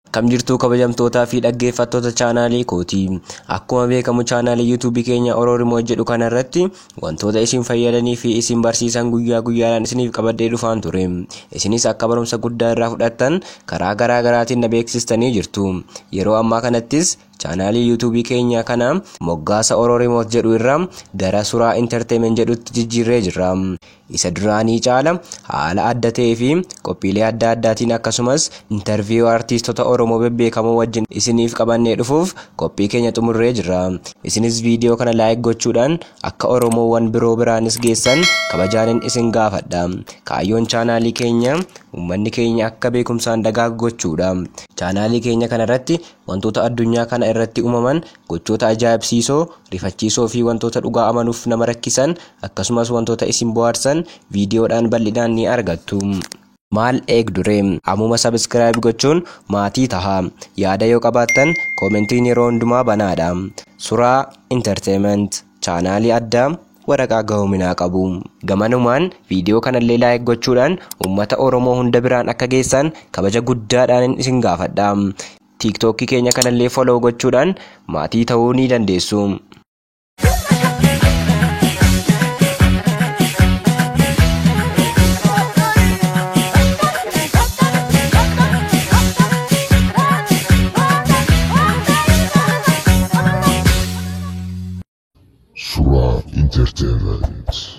Akkam jirtuu kabajamtootaa fi dhaggeeffattoota chaanaalii kooti. Akkuma beekamu chaanaalii yuutuubii keenya Oroorimoot jedhu kana irratti wantoota isin fayyadanii fi isin barsiisan guyyaa guyyaadhaan isiniif qabadhee dhufaan ture. Isinis akka barumsa guddaa irraa fudhattan karaa garaa garaatiin na beeksistanii jirtu. Yeroo ammaa kanattis Chaanaalii YouTube keenya kana moggaasa Oro Remote jedhu irraa gara Suraa Entertainment jedhutti jijjiirree jirra. Isa duraanii caala haala adda ta'ee fi qophiilee adda addaatiin akkasumas interview artiistota Oromoo bebbeekamoo wajjin isiniif qabannee dhufuuf qophii keenya xumurree jirra. Isinis viidiyoo kana like gochuudhaan akka Oromoowwan biroo biraanis geessan kabajaanin isin gaafadha. Kaayyoon chaanaalii keenya uummanni keenya akka beekumsaan dagaagu gochuudha. Chaanaalii keenya kanarratti Wantoota addunyaa kana irratti uumaman, gochoota ajaa'ibsiisoo, rifachiisoo fi wantoota dhugaa amanuuf nama rakkisan, akkasumas wantoota isin bohaarsan viidiyoodhaan bal'inaan ni argattu. Maal eegdure? Ammuma subscribe gochuun maatii taha. Yaada yoo qabaattan commentiin yeroo hundumaa banaadha. Suraa Entertainment. Chaanaalii addaa waraqaa gahoominaa qabu. Gamanumaan viidiyoo kanallee like gochuudhaan uummata Oromoo hunda biraan akka geessaan kabaja guddaadhaanin isin gaafadha. Tiiktookkii keenya kanallee follow gochuudhaan maatii ta'uu ni dandeessu. Suraa Entertainment.